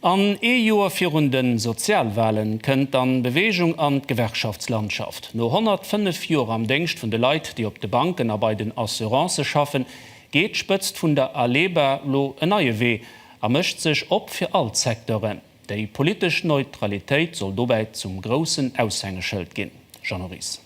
An ee Joer virun de Sozialwale kënnt dann Beweegung an d'Gewerkschaftslandschaft. No 105 Joer am Déngscht vun de Leit, déi op de Banken a bei den Assurancë schaffen, geet d'Spëtzt vun der ALEBA lo en neie Wee a mécht sech op fir all d'Secteuren. Déi politesch Neutralitéit soll dobäi zum groussen Aushängeschëld ginn, Jeannot Ries.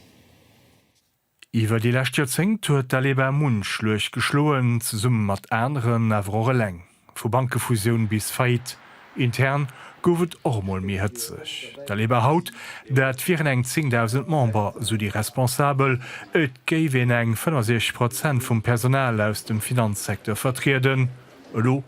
Iwwer déi lescht Joerzéngt huet d'Aleba munch Luucht geschloen, zesumme mat aneren, awer och eleng. Vu Bankefusioun bis Faillite, intern gouf et och emol méi hëtzeg. D'Aleba haut, dat wieren eng 10.000 Member, sou déi Responsabel, et géif een eng 65 Prozent vum Personal aus dem Finanzsecteur vertrieden, elo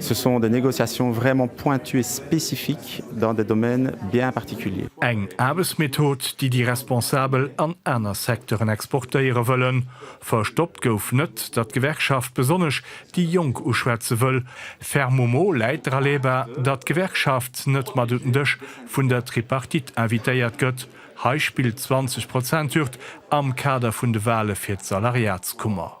Ce sont des négociations vraiment pointues et spécifiques dans des domaines bien particuliers. Eng Aarbechtsmethod, déi déi Responsabel an aner Secteuren exportéiere wëllen. Verstoppt gouf net, datt d'Gewerkschaft besonnesch déi Jonk uschwätze wëll. Fermement läit dra leba, datt d'Gewerkschaft net mat un den Dësch vun der Tripartite invitéiert gëtt. Hei spillt d'Zwanzeg-Prozent-Hürd am Kader vun de Wahle fir d'Salariatskummer.